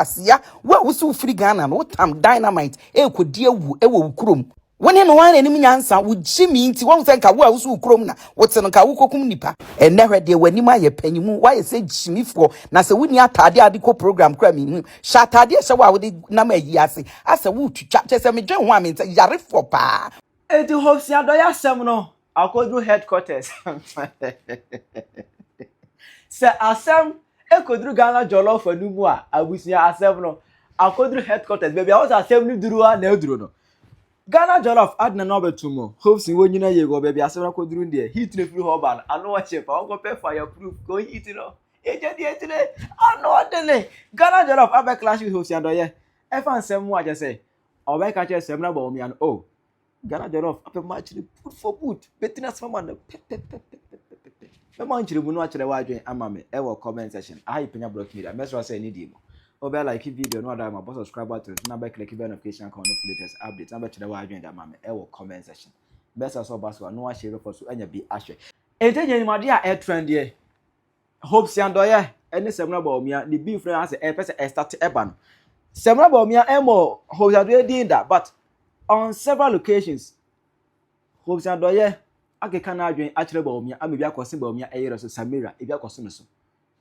Asia, wo a wose wofiri Ghana no, wotam dynamite ɛrekɔdi awu wɔ wo kurom. Wo ne no ara na anim nyansa, wo gyimi nti, woahu sɛ nka wo a wose wo kurom na wote no, nka wokɔkum nnipa. Ɛnnɛ hwɛ deɛ w'anim ayɛ panyinmu, woayɛ sɛ gyimifoɔ, na sɛ wonni ataadeɛ a wode kɔ program koraa menhu. Hyɛ ataadeɛ a ɛhyɛ wo a wode nam ayie ase, asɛ woretwitwa, kyerɛ sɛ medwen ho a mensɛ, yarefoɔ paa. Enti Hopes Adɔe asɛm no, akɔduru headquarters sɛ asɛm ɛkɔduru ghana jɔlɔfo no mu a abusua asɛm no akɔduru headquarters baabi a wɔsɛ asɛm no duru a na aduru no ghana jɔlɔf adena na ɔbɛto mu hopes wɔ nyina yie wɔ baabi asɛm no akɔduru no deɛ heat no firi hɔ ba no ano ɔkye pa wɔnkɔpɛ fire proof kɔ heat no ɛgya deɛ akyire ano ɔdene ghana jɔlɔf abɛklash with hopes adɔyɛ ɛfa nsɛm mu akyɛ sɛ ɔbɛka kyerɛ sɛm no abɔ wɔn mmiano oh Ghana jollof apɛ mu akyere boot for boot. Bɛtini asɛm ama no pɛpɛpɛpɛpɛpɛ. Mɛma nkyerɛmu no akyerɛ w'adwene ama me ɛwɔ comment section. Aha yɛ Panya Blocks Media. Mɛsrɛ wo sɛ ɛne die mu. Wobɛ like video no ɔdɔ ama bɔ subscribe button so na bɛ click bell notification icon no for latest updates na bɛkyerɛ w'adwene de ama me ɛwɔ comment section. Mɛsrɛ sɛ ɔba so a na woahyɛ bɛfa so anya bi ahwɛ. Enti ɛnyɛ animuadeɛ a ɛtrendiɛ. Hope si adɔyɛ ne Samina Bawumia ne beef no ara sɛ ɛpɛ sɛ ɛstate ɛba no. Samina Bawumia ɛmmɔ Hope si adɔyɛ din da but on several occasions Hope si adɔyɛ akeka n'adwene akyerɛ Bawumia ama ebi akɔse Bawumia ɛyere so Samira ebi akɔse no so.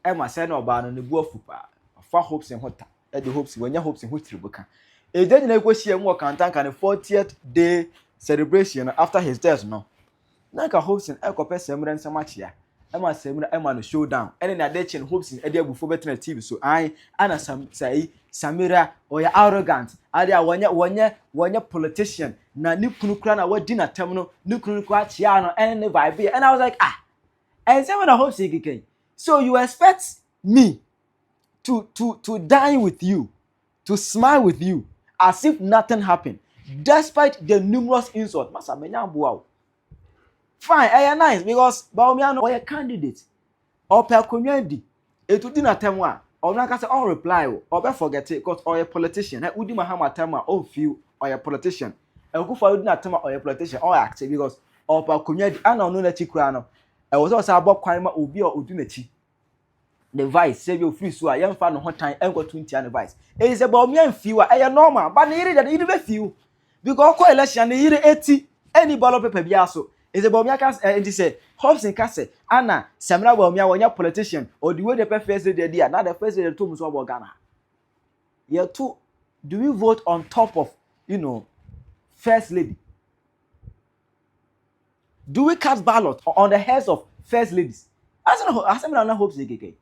Ɛma sɛ na ɔbaa no ne bo afu paa. Ɔfa Hope si ho ta ɛde Hope si wɔnyɛ Hope si ho tiribu ka. Ɛgya nyinaa kɔhyia mu wɔ Kantanka ne 40th day celebration no after his death no. Na anka Hobson rekɔpɛ Samira nsam akyea ma Samira ama no show down. Ɛne nea ade kye no Hobson de abufuo bɛtena Steve so. Ae, ana Sam, sa yi, Samira, ɔyɛ arrogant. Ade a wɔnyɛ, wɔnyɛ, wɔnyɛ politician. Na ne kunu koraa na wadi n'atam no, ne kunu no koraa kyeaa no, ɛne ne vibe yɛ. And I was like, ah, ɛnsɛm na Hobson keka yi. So you expect me to, to, to dine with you? to smile with you as if nothing happened despite the numerous insults. Masa, menya aboa wo. Fine, ɛyɛ nice because Bawumia no ɔyɛ candidate. Ɔpɛ akonnwa di. Etu di n'atɛm a, ɔno ankasa ɔn reply wo, ɔbɛ forget it because ɔyɛ politician. Ɛ wodi Mahama atɛm a, ɔn feel ɔyɛ politician. Akufo adi n'atɛm a, ɔyɛ politician, ɔn act it because ɔpɛ akonnwa di. Ɛna ɔno n'akyi koraa no, ɛwɔ sɛ ɔsan bɔ kwan ma obi a odi n'akyi. ne vice sɛ bi ofiri so a yɛmfa ne ho tan nkɔto ntia ne vice ɛyi sɛ bɔmi amfiw a ɛyɛ normal ba ne yere deɛ ne yere bɛfiw because ɔkɔ election ne yere eti ɛni ballot paper biara so ɛsɛ bɔmi aka sɛ ɛnti sɛ Hobson ka sɛ ana Samina bɔmi a wɔnyɛ politician ɔdi wo de pɛ first lady adi a na de first lady to mu so ɔbɔ Ghana ha yɛto do we vote on top of you know first lady Do we cast ballot on the heads of first ladies? Ase na asɛm na na hope sɛ keke.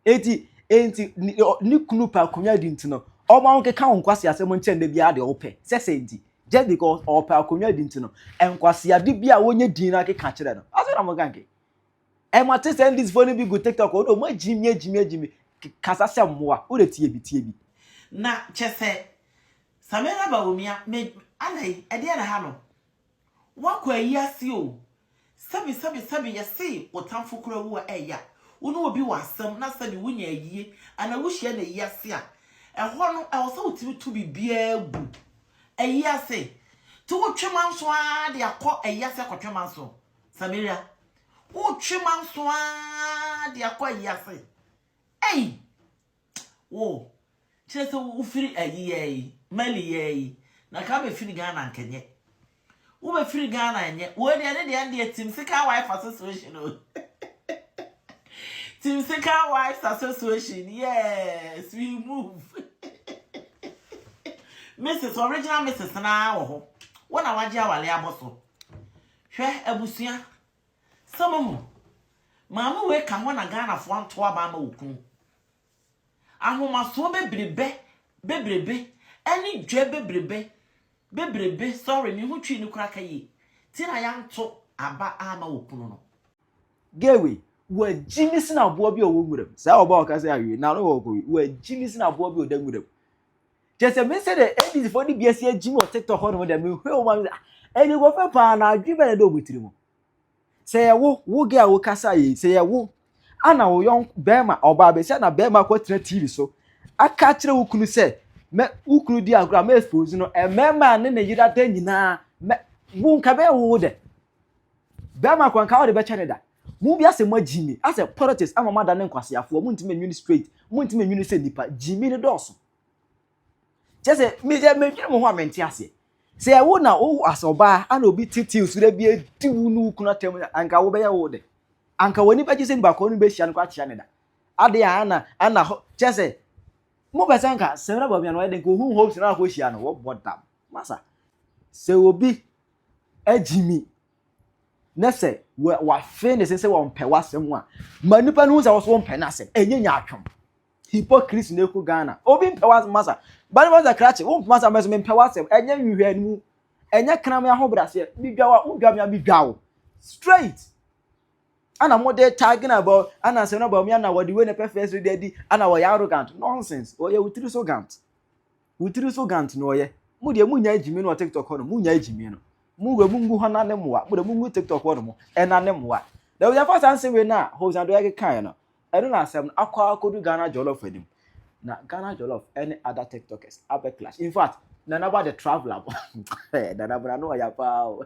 Eti enti ne kunu pa akonnwa di nti no, ɔma wo keka wo nkwasi asɛm nkyɛn da biara deɛ wopɛ. Sɛ sɛ nti, just because ɔpɛ akonnwa di nti no, nkwasi ade bi a wonye din na keka kyerɛ no. Ase na mo kanke. Ɛ mo ate sɛ ndisfoɔ no bi gu tiktok ɔdɔ ɔmo agyimi agyimi agyimi kasa sɛ mmoa wo dɛ tie bi tie bi. Na kyɛ sɛ Samira Bawumia me adɛn ɛdeɛn na ha no woakɔ ayi ase o sɛbi sɛbi sɛbi yɛse wo tamfo koraa wu a ɛya wo ne obi wɔ asɛm na sɛbi wo nya ayie anaa wo hyia no ayi ase a ɛhɔ no ɛwɔ sɛ wo tumi to biribiara gu ayi ase ti wo twe manso aa de akɔ ayi ase akɔtwe manso Samaria wotwe manso aa de akɔ ayi ase ei wo kyerɛ sɛ wofiri ayi yɛ yi mali yɛ yi na ka bɛfiri ghana nkɛnyɛ wobɛfiri ghana nyɛ wei deɛ ne deɛ deɛ tim sika wife association o tim sika wives association yes we move mrs original mrs naa wɔ hɔ wɔn na wagye awale abɔ so Hwɛ abusua, sɛ mohu. Maame wei ka hɔ na Ghanafoɔ anto aba ama wo kunu. Ahomasoɔ bebrebɛ, bebrebɛ, ɛne dwɛ bebrebɛ, bebrebɛ, sorry, me ho twii no koraa ka yie, ti na yɛanto aba amma wo kunu no. Girl wei, wagyimi sene aboa bi a ɔwɔ nwura mu. Saa ɔbaa a ɔka sɛ awie, n'ano wɔ kɔ wei, wagyimi sene aboa bi a ɔda nwura mu. kyɛ sɛ me sɛ dɛ ndc fo de bi asi agyim wɔ tiktok hɔ nom dɛ me hwɛ wɔn ano ah ɛni kɔ fɛ paa na adwi bɛ na ɛda wɔn tiri mu sɛ yɛ wo wo gɛ a wo kasa yɛ sɛ yɛ wo ana wo yɔn bɛrima ɔbaa bɛ sɛ na bɛrima akɔ tena tv so aka akyerɛ wo kunu sɛ mɛ wo kunu di agorɔ a mɛ expose no mmarima a ne ne yera da nyinaa mɛ wo nka bɛyɛ wo wo dɛ bɛrima kɔ nka wɔde bɛkyɛ ne da Mo wiase mo agyi me asɛ politics ama mo adane nkwaseafoɔ mo ntumi nwene straight mo ntumi nwene sɛ nipa gyi me no dɔɔso kyɛ sɛ me yɛ me nwene mo ho a mente aseɛ sɛ ɛwo na wo asɛ ɔbaa ana obi titi nsura bi adi wo no kuna tɛm anka wo bɛyɛ wo de anka wani bɛgye sɛ nipa kɔɔ no bɛhyia no kɔ akyea ne da ade a ana ana hɔ kyɛ sɛ mo bɛsɛ anka sɛ na baabi a na ɔyɛ den ka ohun hopes na akɔ hyia no wɔbɔ dam masa sɛ obi agyi mi na sɛ wafe ne se sɛ wɔmpɛ w'asɛm a ma nipa no hu sɛ wɔso wɔmpɛ n'asɛm ɛnyɛ nyaatwom hypocrisy na ɛkɔ ghana obi mpɛ w'asɛm masa bane masa krakye wompɛ m'asɛm mɛso mempɛ w'asɛm ɛnyɛ nhwehwɛ no mu ɛnyɛ kena me ahobraseɛ medwa wa wodwa me a medwa wo straight ana mode tag na bɔ ana asɛm na bɔ me ana wɔde wei na pɛ fɛ so de adi ana wɔyɛ arrogant nonsense wɔyɛ wo tiri so gant Wo tiri so gant na ɔyɛ. Mo deɛ mo nyae gyimii no wɔ tiktok hɔ nom mo nyae gyimii no mo wura mo ngu hɔ na ne mmoa mo deɛ mo ngu tiktok hɔ nom ɛna ne mmoa na yɛ fa saa nsɛm wei na hosan do ɛke kan no ɛno na asɛm no akɔ akɔdu Ghana jollof anim na Ghana jollof ɛne other tiktokers abɛ clash in fact nanaba the traveler bɔ nanaba na no ɔya paa o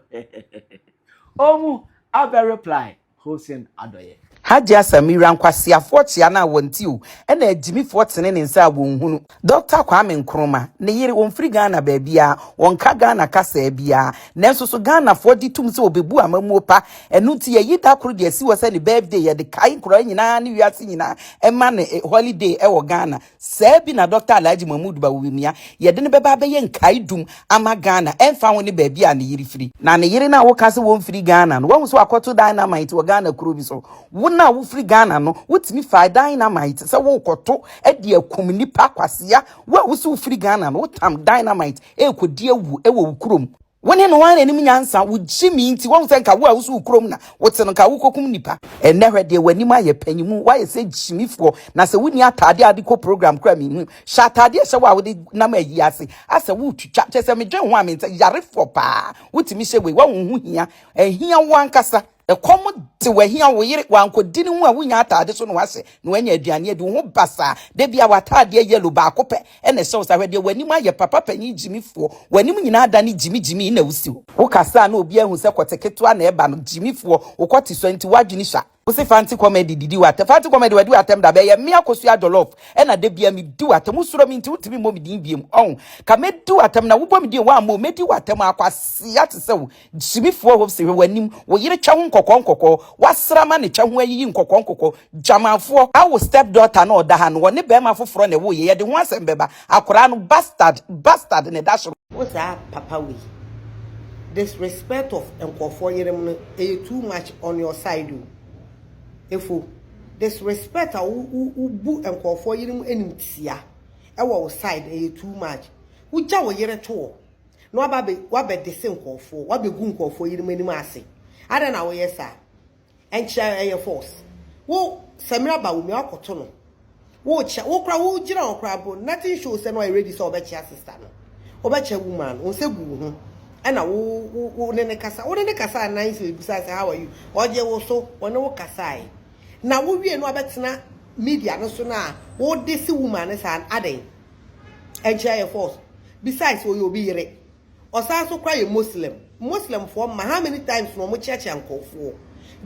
ɔmu abɛ reply ho sen adɔeɛ. Hajia Samira nkwaseafoɔ kyea no a wɔnte o ɛna agyimifoɔ tene ne nsa a wɔnhunu. Dɔkta Kwame Nkrumah, ne yere, wɔmfiri Ghana baabiara, wɔnka Ghana kasaa biara, nanso so Ghanafoɔ gye tom sɛ wɔbɛbu amammuo pa? Ɛno nti yɛayi da koro de asi hɔ sɛ ne birthday, yɛde kae nkoraa nyinaa ne wiase nyinaa ma no holiday wɔ Ghana. Saa bi na Dɔkta Alhaji Mahmood Bawumia, yɛde no bɛba abɛyɛ nkaedum ama Ghana, ɛmfa ho ne baabi a ne yere firi. Na ne yere no a woka sɛ wɔmfiri Ghana no, woahu sɛ wakɔto dynamite wɔ Ghana kuro bi so? Wo no a wofiri Ghana no, wotumi fa dynamite sɛ worekɔto de akum nnipa? Kwasea, wo a wo se wofiri Ghana no, wotam dynamite rekɔdi awu wɔ wo kurom. Wo ne no ara anim nyansa, wo gyimi nti, wahu sɛ nka wo a woso wo kurom na wote no, nka wokɔkum nnipa. Ɛnnɛ hwɛ deɛ w'anim ayɛ panyimu, woayɛ sɛ gyimifoɔ, na sɛ wonni ataadeɛ a wode kɔ program koraa menhu. Hyɛ ataadeɛ a ɛhyɛ wo a wode nam ayie ase, asɛ woretwitwa, kyerɛ sɛ medwen ho a mensɛ, yarefoɔ paa, wotumi hyɛ wei, woahu ho hia, ɛhia wo ankasa. Ɛkɔm de wo ahia wo yere, wankɔdi ne ho a wonnya ataade so na wahyɛ na wanya aduane adi, wo ho basaa, da bi a w'ataadeɛ yellow baako pɛ na ɛhyɛ wo saa, hwɛ deɛ w'anim ayɛ papa panin gyimifoɔ, w'anim nyinaa adane gyimi gyimi na wosi hɔ. Wokasa a na obiara hu sɛ kɔte ketewa na ɛba no, gyimifoɔ, wo kɔte sua nti w'adwene sua. Wose Fanti Comedy didi w'atɛm, Fanti Comedy wadi w'atɛm da bɛn, ɛyɛ me Akosua Jollof na da biara medi w'atɛm, wosuro me nti wontumi mmɔ me din biom, ɔho, ka mɛdi w'atɛm na wobɔ me din a woammɔ o, mɛdi w'atɛm aa, kwasea te sɛ wo, Gyimifoɔ hɔ se hwɛ w'anim wo yere twɛ ho nkɔkɔɔ nkɔkɔɔ w'asra ma ne twɛ ho ayiyi nkɔkɔɔ nkɔkɔɔ Gyamanfoɔ. Awo step daughter no ɔda ha no ɔne barima foforɔ na ɛwoo yɛ yɛde ho asɛm bɛba akwadaa no bastard bastard na ɛda soro. Wo saa papa wei disrespect of nkurɔfoɔ yerem no ɛyɛ too much on your side o Efo disrespect a wo wo bu nkurɔfoɔ yerem animtia ɛwɔ wo side no ɛyɛ too much wo gya wo yere to hɔ na waba bɛ wabɛ dese nkorɔfoɔ wabɛ gu nkorɔfoɔ yinom anim ase adɛn na woyɛ saa ɛnkyɛ ɛyɛ false wo Samira ba wo nua akɔto no wo kyɛ wo kora wo gyina hɔ kora bro nothing show sɛ na ɔyɛ ready sɛ ɔbɛkyɛ sister no ɔbɛkyɛ woman wo nsa gu wo ho ɛna wo wo wo ne ne kasa wo ne ne kasa anan sɛ ebusa sɛ how are you ɔgye wo so ɔne wo kasae na wo wie no abɛtena media no so na wo dese woman no saa adɛn ɛnkyerɛ yɛ false besides ɔyɛ obi yere ɔsan so kora yɛ Muslim Muslim foɔ mma how many times na wɔn kyeakyea nkɔfoɔ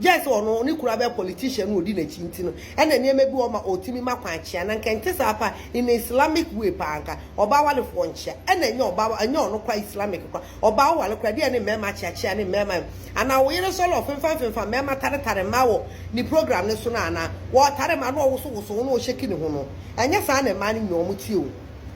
gyɛ sɛ ɔno ne kura bɛ politician no ɔdi n'akyi nti no ɛna nneɛma bi ɔma ɔtumi ma kwan kyea na nka nte saa pa in Islamic way paa nka ɔbaa walefoɔ nkyea ɛna ɛnyɛ ɔbaa ɛnyɛ ɔno kora Islamic kora ɔbaa ɔware koraa deɛ ne mmarima akyeakyea ne mmarima yi anaa wo yere sɔre ɔfemfa mfemfa mmarima taretare mmaa wɔ ne program no so no anaa wɔretare mmaa na ɔwoso woso ho na ɔhyɛki ne ho no ɛnyɛ saa na mmaa no nyinaa wɔn tie o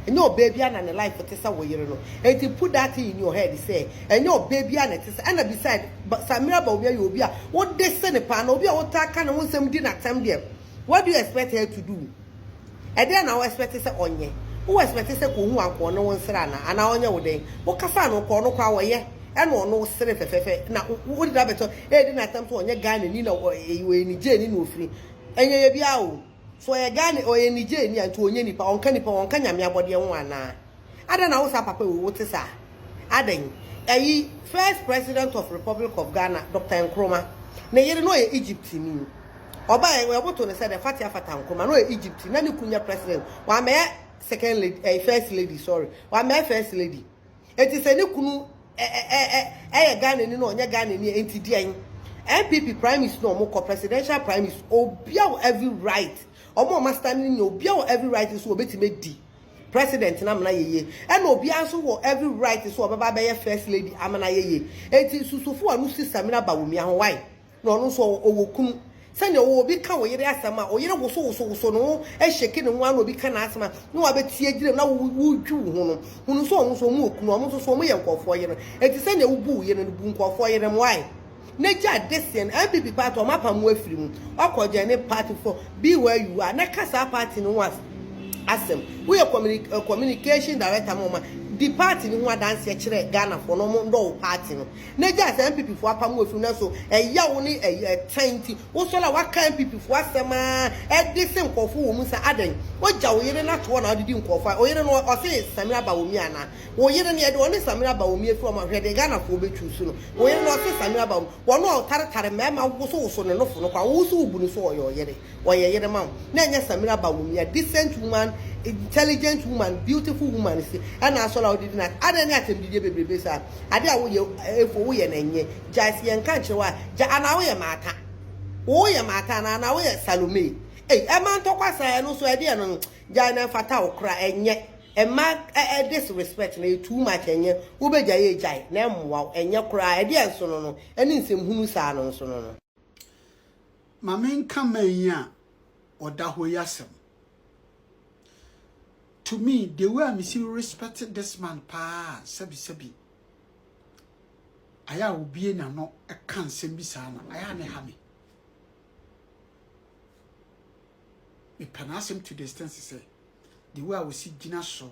ɛnyɛ ɔbaa biara na ne life te sɛ wo yere no enti put that thing in your head sɛ ɛnyɛ ɔbaa biara na ɛte sɛ ɛna beside Samira Bawumia yɛ obi a wode se ne paa na obi a wotaa ka ne ho nsɛm di n'atɛm deɛ what do you expect her to do. Ɛdɛn na wo expect sɛ ɔnyɛ? Wo expect sɛ kɔ hu ankoɔ ne wo nsere anaa? Anaa ɔnyɛ wo dɛn? Wo kasaa no kɔɔ no koraa wɔyɛ ɛna ɔno wo sere fɛfɛɛfɛ na wo de abɛtɔ ɛɛdi no atɛm to ɔnyɛ Ghana ni na ɔyɛ Niger ni na ɔfiri ɛnyɛ yɛ biara o so ɔyɛ Ghana ɔyɛ Niger ni a nti ɔnyɛ nipa ɔnka nipa ɔnka nyame abɔdeɛ ho anaa? Adɛn na wo saa papa wei wo te saa? Adɛn? Ɛyi first president of Republic of Ghana Doctor Nkrumah ne yere na ɔyɛ Egypt ni. Ɔba yɛ wɔyɛ boto ne sɛ dɛ Fatia Fata Nkrumah na ɔyɛ Egypt na ne kun yɛ president wɔamɛyɛ second lady ɛyi first lady sorry wɔamɛyɛ first lady. Eti sɛ ne kunu ɛ ɛ ɛ ɛ ɛyɛ Ghana ni na ɔnyɛ Ghana ni enti deɛn? NPP primaries na ɔmo kɔ presidential primaries obia wɔ every right ɔmo ɔmo astan ne nyɛ obia wɔ every right nso wɔbɛtumi adi. President no amena yɛ yie ɛna obiara nso wɔ every right sɛ ɔbɛba abɛyɛ first lady amena yɛ yie enti nsusufo a no sister mina Bawumia ho why na ɔno nso ɔwɔ ɔwɔ kunu sɛnea ɔwɔ obi ka oyere asɛm a oyere woso woso woso ne ho ɛhyɛke ne ho ara na obi ka n'asɛm a na wabɛtie gyina mu na wo wo dwi wo ho no hunu sɛ ɔno nso ɔmo wɔ kunu ɔmo nso so ɔmo yɛ nkurɔfoɔ yere enti sɛnea wobu wo yere no bu nkurɔfoɔ yere no why. ne gya deseɛ no NPP party ɔmo apam wo afiri mu ɔkɔ join ne party fɔ be where you are na ka saa party no ho asɛm wo yɛ communication director ma ɔma di party no ho adanseɛ kyerɛ Ghana foɔ na ɔmo ndɔ wo party no na gya sɛ NPP foɔ apam wo afiri mu nanso ɛya wo ne ɛtan nti wo sɔre a waka NPP foɔ asɛm aa ɛde se nkorɔfo wɔ mu sa adɛn wo gya wo yere no ato hɔ na wode di nkorɔfo a oyere no ɔse samina ba wɔ mia anaa. Wo yere no yɛde ɔne Samira aba wom yɛfiri wɔn ahwɛ deɛ Ghanafoɔ bɛtwi so no wo yere no ɔse Samira aba wom wɔn a ɔtaretare mmarima wosowoso ne nofo no kwa wo nso wobu no so ɔyɛ ɔyere ɔyɛ yere ma wo na ɛnyɛ Samira aba wom ya decent woman intelligent woman beautiful woman nso ɛna asɔre a wodidi na adɛn ne atɛmdidiɛ bebrebe saa adeɛ a woyɛ ɛfo woyɛ no ɛnyɛ gyae sɛ yɛnka nkyerɛ wo a gyae anaa woyɛ maata woyɛ maata anaa anaa woyɛ Salome ei ɛma ntɔkwa saa ɛno nso ɛdeɛ no gyae no ɛmfata wo koraa ɛnyɛ. Mma ɛ disrespect no yɛ too much ɛnyɛ wobɛgyae a gyae na ɛmmoa wo ɛnyɛ koraa ɛdeɛ nsono no ɛne nsɛmhunu saa no nsono no. Ma me nka man yi a ɔda hɔ yi asɛm. To me the way a me si respect this man paa sɛbi sɛbi ayɛ a obue n'ano ka nsɛm bi saa no ayɛ a ne ha me. Me pɛ n'asɛm to the extent sɛ. the way a wɔsi gyina so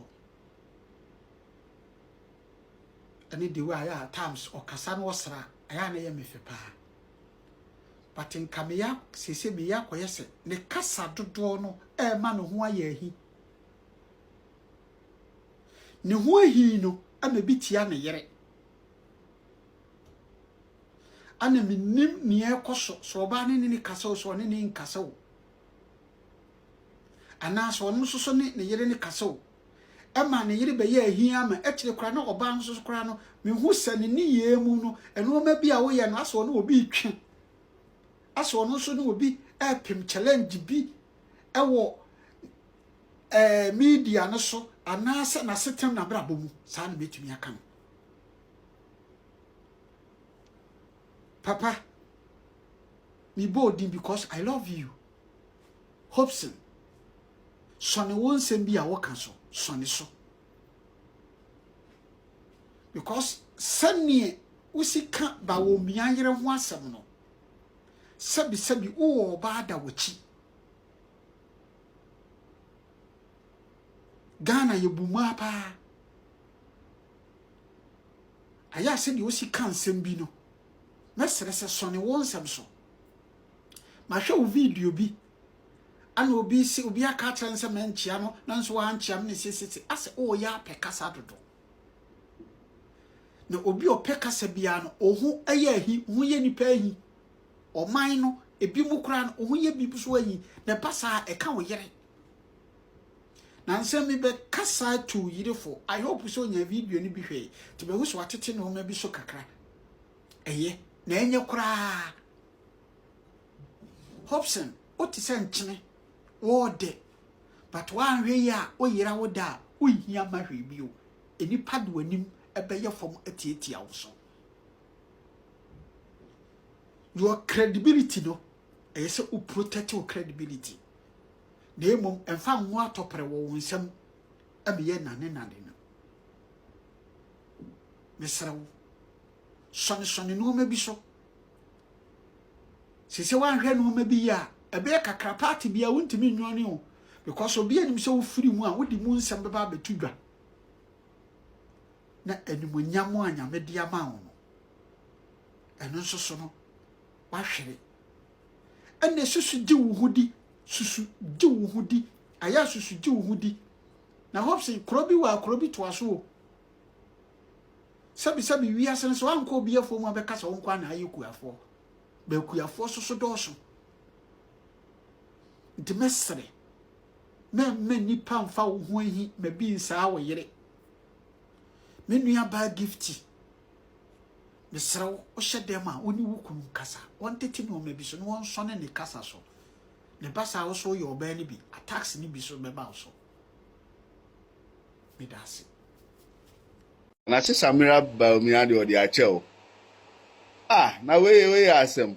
ɛne the way a yɛ a times ɔkasa no ɔsra ɛyɛ a na ɛyɛ me fɛ paa but nka meya sese meya akɔyɛ sɛ ne kasa dodoɔ no ɛrema ne ho ayɛ ahi ne ho ahi no ɛna ebi tia ne yere ɛna menim nea ɛkɔ so sɛ ɔbaa ne ne ne kasa o sɛ ɔne ne nkasa o Anaasɛ ɔno nso so ne ne yere no kasa o. Ɛma ne yere bɛyɛ ahia ama akyire koraa na ɔbaa no nso so koraa no, mehu sɛ ne nneyɛɛ mu no, nnoɔma bi a woyɛ no, asɛ ɔne obi retwe. Asɛ ɔno nso ne obi repem challenge bi wɔ ɛɛ media no so anaasɛ n'asetenam n'abrabɔ mu. Saa na mɛtumi aka no. Papa, me bɔ odin because I love you. Hobson, sɔne wo nsɛm bi a woka so, sɔne so. Because sɛneɛ wosi ka ba wɔ mia yere ho asɛm no, sɛbi sɛbi wowɔ ɔbaa da wakyi. Ghana yɛ bu mmaa paa. Ayɛ a sɛdeɛ wosi ka nsɛm bi no, mɛsrɛ sɛ sɔne wo nsɛm so. Mahwɛ wo video bi, ana obi se obi aka akyerɛ no sɛ mankyia no, nanso wankyia me ne sesese, asɛ ɔreyɛ apɛ kasa dodo. Na obi ɔpɛ kasa biara no, ɔho yɛ ahi, ɔho yɛ nipa ahi. Ɔman no, ebi mu koraa no, ɔho yɛ bi so ahi, na ɛba saa ɛka wo yere. Nansɛ me bɛ kasa to wo yere fo I hope sɛ onya video no bi hwɛe to bɛ hu sɛ watete nnoɔma bi so kakra ɛyɛ na ɛnyɛ koraa Hobson o te sɛ nkyene o dɛ but woanhwɛ yi a o yera wo da a o nhia ma hwee bio nnipa de w'anim ɛbɛyɛ fam atiatia wo so your credibility no ɛyɛ sɛ o protect your credibility na mmom mfa ngo atɔprɛ wɔ wo nsam ɛmeyɛ nnanennane no. Mesrɛ wo, sɔnesɔne nneɛma bi so. Sɛ sɛ woanhwɛ nneɛma bi yɛ a, ɛbɛyɛ kakra paate bi a wontumi nnwane o because obi anim sɛ wofiri mu a wode mu nsɛm bɛba abɛto dwa na animonyam a nyame de ama wo no ɛno nso so no wahwere. Ɛnna susu gye wo ho di, susu gye wo ho di, ayɛ susu gye wo ho di. Na Hobson, kuro bi wɔ a kuro bi toa so o. Sɛbisɛbi wiase no sɛ wankɔ obi afuo mu abɛka sɛ wo nko na ayɛ kuafoɔ. Bɛkuafoɔ so so dɔɔso. Nti mɛsere na mma nnipa mfa wo ho ahi ma bi nsaa wo yere. Me nua baa gifti. Mesrɛ wo, wohyɛ dɛm a, wo ne wo kunu nkasa. Wɔntete nneɛma bi so na wɔnsɔne ne kasa so. Na ɛba saa wo so woyɛ ɔbaa no bi, attacks no bi so bɛba wo so. Meda ase. Na se Samira Bawumia deɛ ɔde akyɛ o. Ah na wei yɛ wei yɛ asɛm.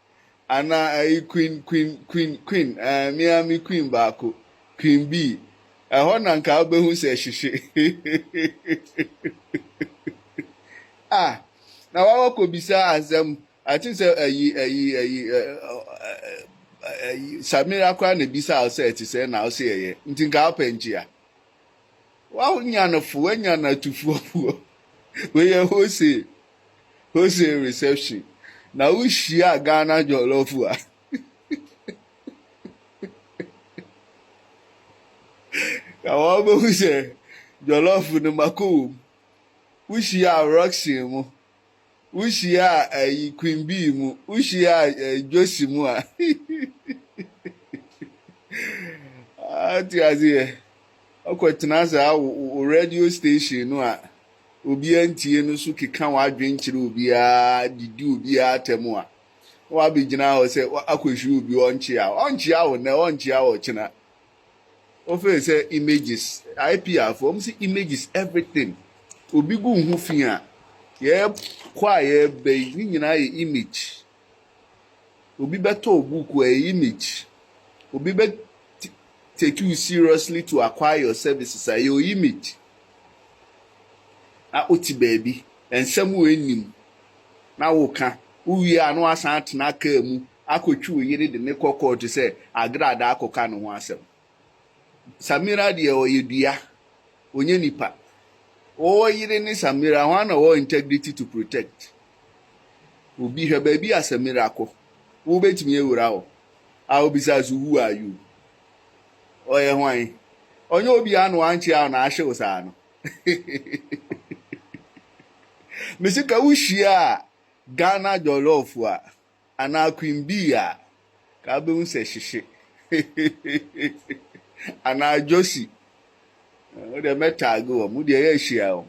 Ana ayi Queen Queen Queen Queen eh me ara me Queen baako Queen Bee ɛhɔ na nka wobɛhu sɛ hyehye ah na wawa kɔbisa asɛm I think sɛ ayi ayi ayi ayi Samira koraa na ɛbisa wo sɛ ɛte sɛ na wo se ɛyɛ nti nka wopɛ nkyea. Wanya no fo, wanya no atufoɔ foɔ. Wei yɛ hose, hose reception. Na wohyia Ghana jollof a. Na wɔbɛhu sɛ jollof no mako wɔ mu. Wohyia Roxy mo. Wo hyiaa ayi Queen Bee mu, wo hyiaa eh, Josie mu a. Ate aseɛ. Ɔkɔ tena saa wo, wo radio station no a obiara ntie no so keka w'adwene kyerɛ obiara, didi obiara atɛm a, na wabɛgyina hɔ sɛ akɔhwiri obi ɔnkyea wo. Ɔnkyea wo nnɛ, ɔnkyea wo ɔkyena. wɔfrɛ no sɛ images IPR fo wɔn sɛ images everything obi gu ho fi a yɛkɔ a yɛbɛ yi ne nyinaa yɛ image obi bɛtɔ buku a ɛyɛ image obi bɛ take you seriously to acquire your services a ɛyɛ image na wote baabi nsɛm wɔ anim na woka wowie a na wasan atena kaa mu Akɔtwi wo yere de no kɔ kɔɔto sɛ agradaa akɔka ne ho asɛm. Samira deɛ ɔyɛ dua, ɔnyɛ nipa. Wo yere ne Samira hwan na ɔwɔ integrity to protect obi? Hwɛ baabi a Samira kɔ, wobɛtumi awura hɔ? I will be sa so who are you? Ɔyɛ hwan? Ɔnyɛ obiara na wankyea wo na ahye wo saa no. Mese ka wo hyia Ghana jollof a. anaa Queen Bee a, ka wobɛhu sɛ hyehye. anaa Josie. Wo deɛ mɛtaage wɔn, mo deɛ yɛahyia wɔn.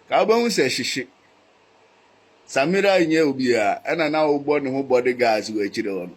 Ka wobɛhu sɛ hyehye. Samira nyɛ obiara, ɛna na wobɔ ne ho bodyguards wɔ akyire hɔ no.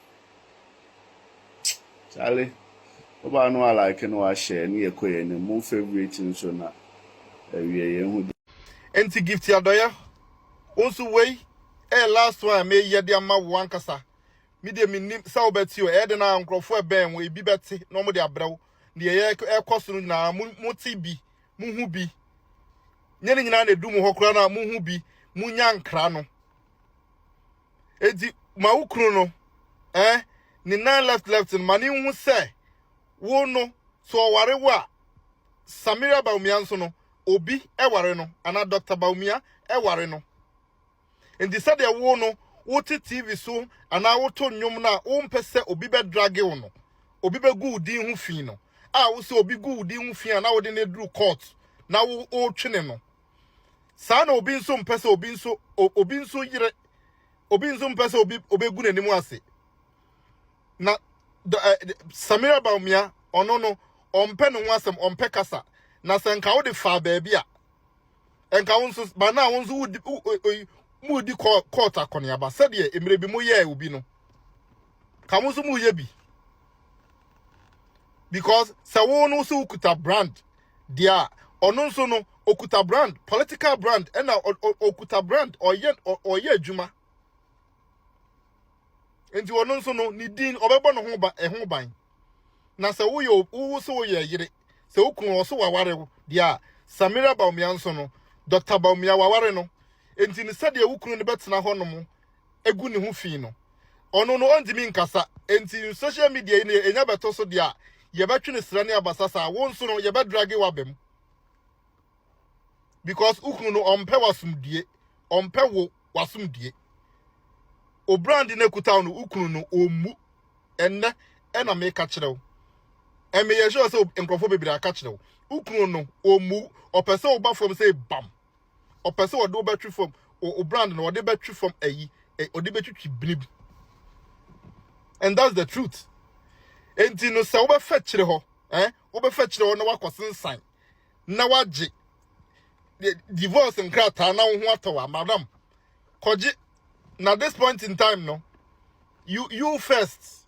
Charlie ɔbaa no a like no wa share ne yɛ kɔ yɛ anim mo favourite nso na ɛwiɛ yɛ hu deɛ. Enti Gifty Adɔyɛ wo nso wei ɛyɛ last one a meyɛ de ama wo ankasa me deɛ mennim sɛ wobɛte o ɛyɛ dɛn a nkorɔfoɔ ɛbɛn wo ebi bɛte na wɔde abrɛ wo deɛ ɛyɛ ɛkɔ so no nyinaa mo mote bi mo hu bi nyɛ ne nyinaa na edu mo hɔ koraa na mo hu bi mo nya nkra no. Enti ma wo kunu no, eh, ne nan left left no, ma ne nhu sɛ wo no, so ɔware wo a, Samira Bawumia nso no, obi ware no, anaa Doctor Bawumia ware no. Enti sɛdeɛ wo no, wote TV so anaa woto nnwom no a wompɛ sɛ obi bɛdrage wo no, obi bɛgu wo din ho fi no, a wo sɛ obi gu wo din ho fi a na wode no aduru court na wotwene no, Saa na obi nso mpɛ sɛ obi nso obi nso yere. Obi nso mpɛ sɛ obi obegu n'anim ase. Na Samira Baumia ɔno no ɔmpɛ ne ho asɛm, ɔmpɛ kasa. Na sɛ nka wode faa baabi a nka wo nso ba na wo nso wudi mu di court akɔneaba sɛdeɛ mmerɛ bi mo yɛɛ obi no. ka mo nso mo yɛ bi because sɛ wo no so okuta brand deɛ a ɔno nso no okuta brand political brand ɛna okuta brand ɔyɛ ɔyɛ adwuma nti ɔno nso no ne din ɔbɛbɔ ne ho ba ɛho ban na sɛ woyɛ wo so woyɛ yere sɛ wokunu ɔso waware wo deɛ a samira baomia nso no dɔkta baomia waware no nti ne sɛdeɛ wokunu no bɛtena hɔ nom gu ne ho fi no, ɔno no ɔntumi nkasa, enti social media yi no yɛ nya bɛto so deɛ a, yɛbɛtwe no sra ne abasa saa, wo nso no yɛbɛ drage wo aba mu because wo kunu no ɔmpɛ w'asomdue, ɔmpɛ wo w'asomdue. O brand no kuta wo no, wo kunu no ɔmmu, ɛnnɛ ɛna meka kyerɛ wo, ɛmeyɛ sure sɛ nkurɔfoɔ bebree aka kyerɛ wo, wo kunu no ɔmmu, ɔpɛ sɛ ɔba fam sɛ bam. ɔpɛ sɛ ɔde wo bɛtwe fam o brand no ɔde bɛtwe fam ayi ɔde bɛtwitwi bini bi and that's the truth enti no sɛ wobɛfa kyerɛ hɔ eh wobɛfa kyerɛ hɔ na wakɔ sensan na wagye divorce nkrataa na wo ho atɔ wa madam kɔgye na this point in time no you you first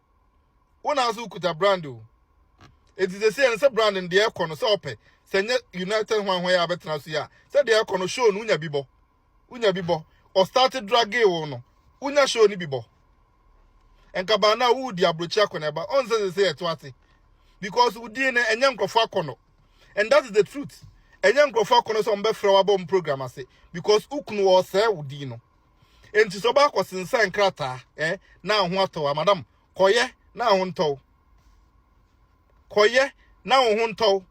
wo na nso wokuta brand o eti sese ɛn sɛ brand no deɛ ɛkɔ no sɛ ɔpɛ sɛ nyɛ united hwanhwan yɛ abɛtena so yɛ a sɛ deɛ ɛkɔ no show no wonya bi bɔ wonya bi bɔ ɔstart drage wo no wonya show no bi bɔ nkabaa no a wodi aburokyi akɔ na ɛba ɔn sɛ sese ɛto ase because wodin no ɛnyɛ nkurɔfoɔ akɔ no and that is the truth ɛnyɛ nkurɔfoɔ akɔ no sɛ wɔn bɛfrɛ wabɔ wɔn program ase because wokunu wɔ ɔsɛɛ wodin no enti sɛ ɔba akɔsensan krataa ɛ eh, na ho atɔ wa madam kɔyɛ na ho ntɔw kɔyɛ na ho ho ntɔw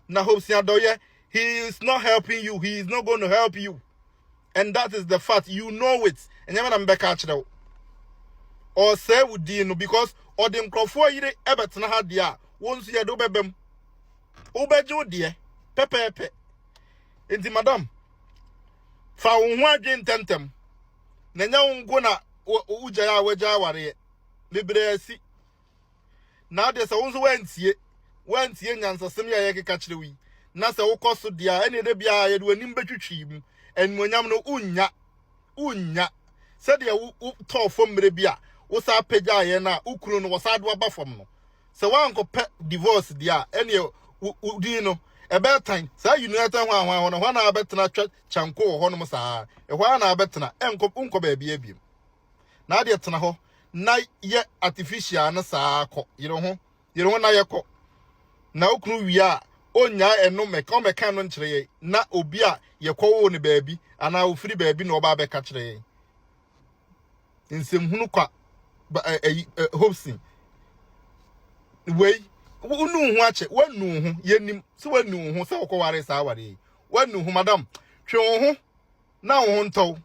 na hope si adɔyɛ he is not helping you he is not going to help you and that is the fact you know it ɛnyɛ me na mebɛka akyerɛ wo ɔsɛe wo din no because ɔde nkurɔfoɔ yere ɛbɛtena ha deɛ a wo nso yɛde wobɛbɛ mu wobɛgye wo deɛ pɛpɛɛpɛ nti madam Fa wo ho adwene ntɛmntɛm, na ɛnyɛ wo nko na wogyae a wagyae awareɛ. Bebree asi. Na adeɛ sɛ wo nso woantie, woantie nyansasɛm yi a yɛkeka kyerɛ wo yi, na sɛ wokɔ so deɛ a, ɛnneɛ da biara yɛde w'anim bɛtwitwi mu. Animuonyam no, wonnya. Wonnya. Sɛdeɛ wotɔɔ fam mmerɛ bi a wosan pagyaa yɛn a, wo kunu no, wɔsan de wo aba fam no, Sɛ woankɔpɛ divorce deɛ a, ɛnneɛ wo wo din no, ɛbɛyɛ tan. Saa United hwanhwan hɔ no, ɛhɔ ara na wabɛtena atwa kyanko wɔ hɔnom saa ara. Ɛhɔ ara na wabɛtena, ɛnkɔ, wonkɔ baabiara biom. Na adeɛ tena hɔ na yɛ artificial no saa ara kɔ. Yere ho, yere ho na yɛ kɔ. Na wo kunu wie a, ɔnnyae ɛno mmɛka, ɔmmɛka ɛno nkyerɛ yɛn na obi a yɛkɔwoo no baabi anaa ɔfiri baabi na ɔba abɛka kyerɛ yɛn. nsɛmhunu kwa ba ɛ ɛyi ɛ hopsin wei wonu wo ho akyɛ wanu wo ho yɛnim sɛ wanu wo ho sɛ wokɔware saa aware yi wanu wo ho madam twe wo ho na wo ho ntɔw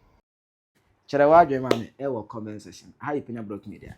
Kyerɛ w'adwene ma me wɔ comment section. Aha yɛ Penya Block Media.